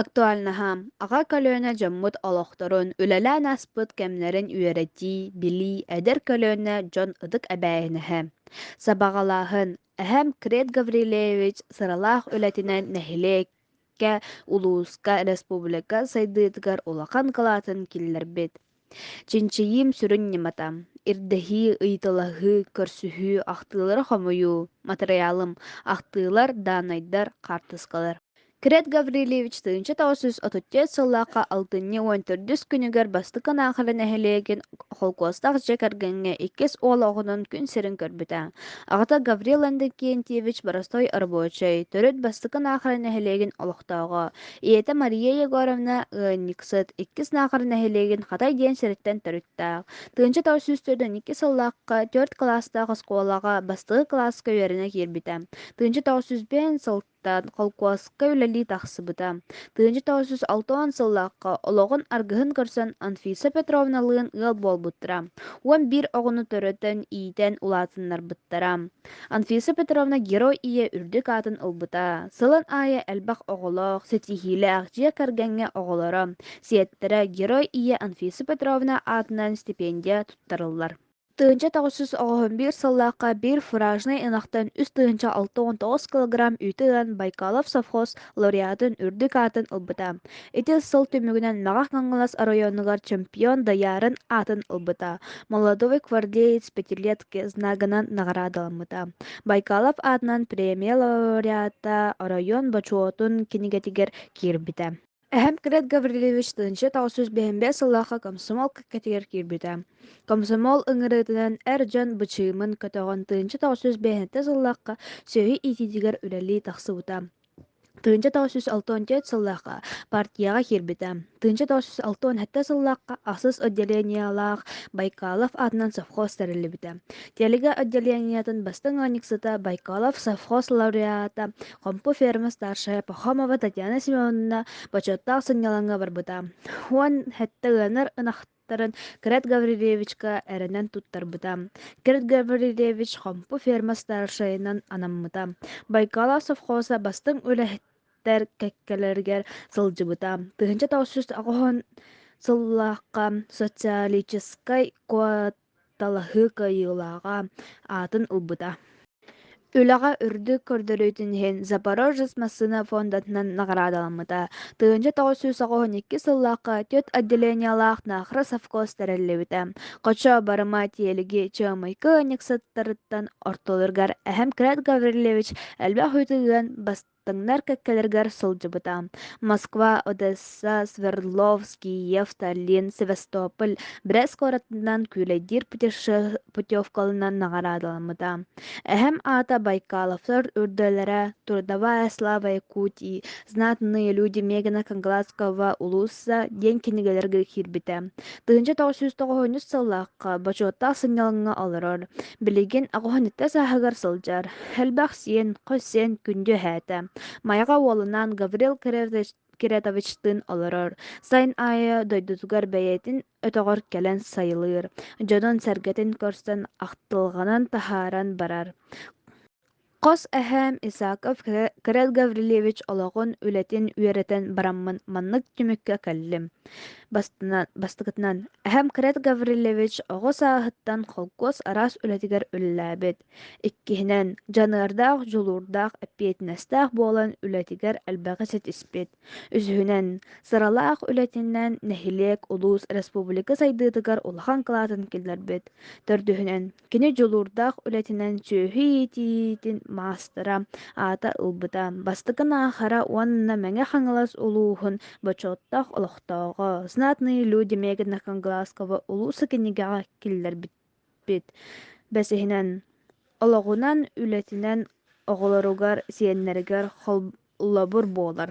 Актуальнаһа. Аҕа көлүөнэ дьоммут олохторун, үлэлээн ааспыт кэмнэрин үөрэтии, билии, эдэр көлүөнэ дьон ытык эбээһинэһэ. Сабаҕалааһын. Эһэм Крет Гаврилевич сыралаах үлэтинэн нэһилиэк Кэ улууска, республика сайдыытыгар улахан кылаатын киллэрбит. Чинчийиим сүрүн ньымата: ирдэһии, ыйыталаһыы, көрсүһүү, ахтыылары хомуйуу, матырыйаалым, ахтыылар, даанайдар, хаартыскалар. Крет Гаврильевич тыһыынча тоҕус жүз отуттан сыллаахха алтынньы уон төрдүс күнүгэр бастакы Наахара нэһилиэгин Холкуостаах дьиэ кэргэҥҥэ иккис уол оҕонон күн сирин көрбүтэ. Аҕата Гаврил Иннокентьевич боростой рабочай, төрүт бастакы Наахара нэһилиэгин олохтооҕо, ийэтэ Мария Егоровна ыанньыксыт, иккис Наахара нэһилиэгин Хатай диэн сириттэн төрүттээх. Тыынча тоҕус сүүс төрдүн икки сыллаахха төрүт кылаастаах оскуолаҕа бастакы кылааска үөрэнэ киирбитэ. Тыынча тоҕус сүүс биэс сыл холкуоска үлэлии тахсыбыта. Тыынча тоҕус жүз алта уон сыллаахха олоҕун аргыһын көрсөн Анфиса Петровналыын ыал буолбуттара. Уон биир оҕону төрөтөн, иитэн улаатыннарбыттара. Анфиса Петровна герой ийэ үрдүк аатын ылбыта. Сылын аайы элбэх оҕолоох, ситиһиилээх дьиэ кэргэҥҥэ оҕолоро, сиэттэрэ герой ийэ Анфиса Петровна аатынан стипендия туттарыллар. тыһыынча тоҕус жүз оҕоһун биир сыллаахха биир фуражнай ынахтан үс тыһыынча алта уон тоҕус килограмм үүтү ылан Байкалов совхоз лауреатын үрдүк аатын ылбыта. Ити сыл түмүгүнэн Маҕах Хаҥалас оройуонугар чемпион Даяарын аатын ылбыта. Молодой гвардеец пятилетки знагынан наҕараадаламмыта. Байкалов аатынан премия лауреата оройуон бочуотун кинигэтигэр киирбитэ. Эһэм Крет Гаврильевич тыһыынча тоҕус сүүс биһиmbэ сыллаахха комсомол кэккэтигэр киирбитэ. Комсомол ыҥырыытынан эр дьон бычыымын көтөҕөн тыһыынча тоҕус сүүс биэһинтэ сыллаахха сүөһү иитиитигэр үлэлии тахсыбыта. Тыһыынча тоҕус сүүс алтан төрт сыллаахха партияҕа киирбитэ. Тыһыынча тоҕус сүүс алтан сэттэ сыллаахха ахсыс отделениялаах Байкалов аатынан совхоз тэриллибитэ. Тэлигэ отделениетын бастыҥ ыанньыксыта Байкалов совхоз лауреата Хомпу ферма старшая Пахомова Татьяна Семеновна бочуоттаах сынньалаҥҥа барбыта уон сэттэ ыанар ынахтарын Крет Гаврильевичка эрэнэн туттарбыта. Крет Гаврильевич хомпу ферма старшайынан анаммыта. Байкала совхоза бастыҥ үлэһиттэр кэккэлэригэр сылдьыбыта. Тыһыынча тоҕус сүүс оҕоһун сыллаахха социалическай куотаҕа Талаһыы кыайыылааҕа аатын ылбыта. Үлэҕэ үрдүк көрдөрүүтүн иһин Запорожец массыына фондатынан наҕараадаламмыта. Тыһыынча тоҕус сүүс оҕоһун икки сыллаахха түөрт отделениелаах наахра совхоз тэриллибитэ. Хочо Барыма тиэлиги Чыамайкы ыанньыксыттарыттан ортолоругар Эһэм Крет Гаврильевич элбэх үүтү ыан Таҥнар кэккэлэригэр сылдьыбыта. Москва, Одесса, Свердловский, Евталин, Севастополь, Брест куоратынан күүлэйдиир путеше- путевкаларынан наҕараадаламмыта. Эһэм аата Байкаловтар үрдэлэрэ «Трудовая слава Якутии», «Знатные люди Мегана Канглаского улууса» диэн кинигэлэргэ киирбитэ. Тыһыынча тоҕус жүз тоҕуһунньус сыллаахха бочуоттаах сынньалаҥҥа олорор. Билигин оҕуһунньукта сааһыгар сылдьар, элбэх сиэн, хос сиэн күндү эһээтэ. Майаҕа уолунан Гаврил Кириллович Киретовичтыын олорор. Сайын аайы дойдутугар бэйэтин өтөҕөр кэлэн сайылыыр, дьонун-сэргэтин көрсөн ахтылҕанын таһааран барар. Хос эһээм Исаков Кирилл Гаврильевич олоҕун, үлэтин үөрэтэн бараммын маннык түмүккэ кэллим. Бастынан, бастакытынан, эһэм Кирилл Гаврильевич оҕо сааһыттан холкуос араас үлэтигэр үлэлээбит. Иккиһинэн, дьаныардаах, дьулуурдаах, эппиэтинэстээх буолан үлэтигэр элбэҕи ситиспит. Үсүһүнэн, сыралаах үлэтинэн нэһилиэк, улуус, республика сайдыытыгар улахан кылаатын киллэрбит. Төрдүһүнэн, Кини дьулуурдаах үлэтинэн сүөһү иитиитин маастара аата ылбыта. Бастакы аахара уонна Мэҥэ Хаҥалас улууһун бочуоттаах олохтооҕо, «Знатные люди» Мегана Канглаского улуус кинигэҕэ киллэрбит. Бэсиһинэн, олоҕунан, үлэтинэн оҕолоругар, сиэннэригэр холболобур буолар.